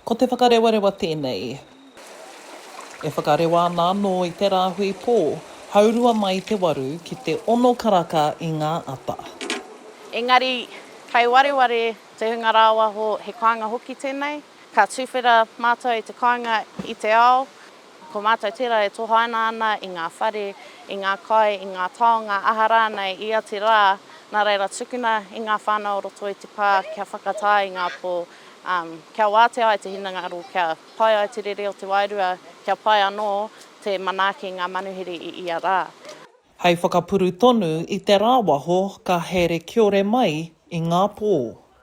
Ko Te Whakarewarewa tēnei. E whakarewa ana anō i te rāhui pō, haurua mai te waru ki te ono karaka i ngā ata. Engari, kei wareware te hunga rāwaho, he kāinga hoki tēnei. Ka tuwhera mātou i te kāinga i te ao, Ko mātou tērā e tohaina ana i ngā whare, i ngā kai, i ngā taonga, aha rānei, i ia te rā, nā reira tukuna i ngā whānau o roto i te pā kia whakatā i ngā pō, kia wātea ai te hinengaro, kia pai ai te rere o te wairua, kia pai anō te manaaki i ngā manuhiri i ia rā. Hei whakapuru tonu i te rāwaho ka here kiore mai i ngā pō.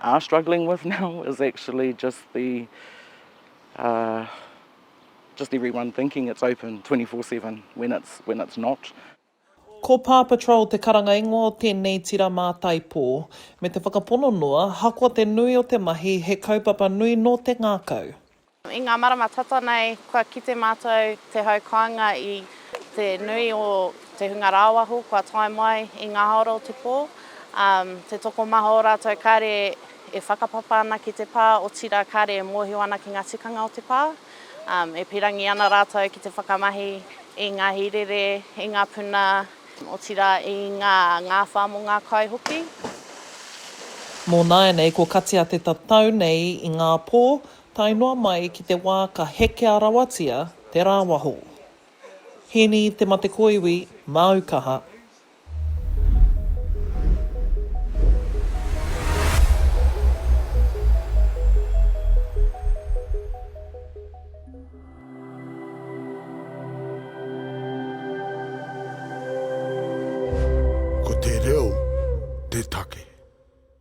are struggling with now is actually just the uh, just everyone thinking it's open 24/7 when it's when it's not. Ko Paw Patrol te karanga ingoa o tēnei tira mātaipō. Me te whakapono noa, ahakoa te nui o te mahi, he kaupapa nui nō te ngākau. I ngā marama tata nei, kua kite mātou te hau kāinga i te nui o te hunga rāwaho kua tae mai i ngā hāora o te pō. Te tokomaha o rātou kāre e whakapapa ana ki te pā, otirā kāre e mōhio ana ki ngā tikanga o te pā. E pīrangi ana rātou ki te whakamahi i ngā hīrere, i ngā puna, otirā i ngā ngāwhā mō ngā kai hoki. Mō nāianei, kua katia te tatau nei i ngā pō, Tae noa mai ki te wā ka hekea rawatia te rāwaho. Hini te mate koiwi, māu kaha. Ko te reo te take.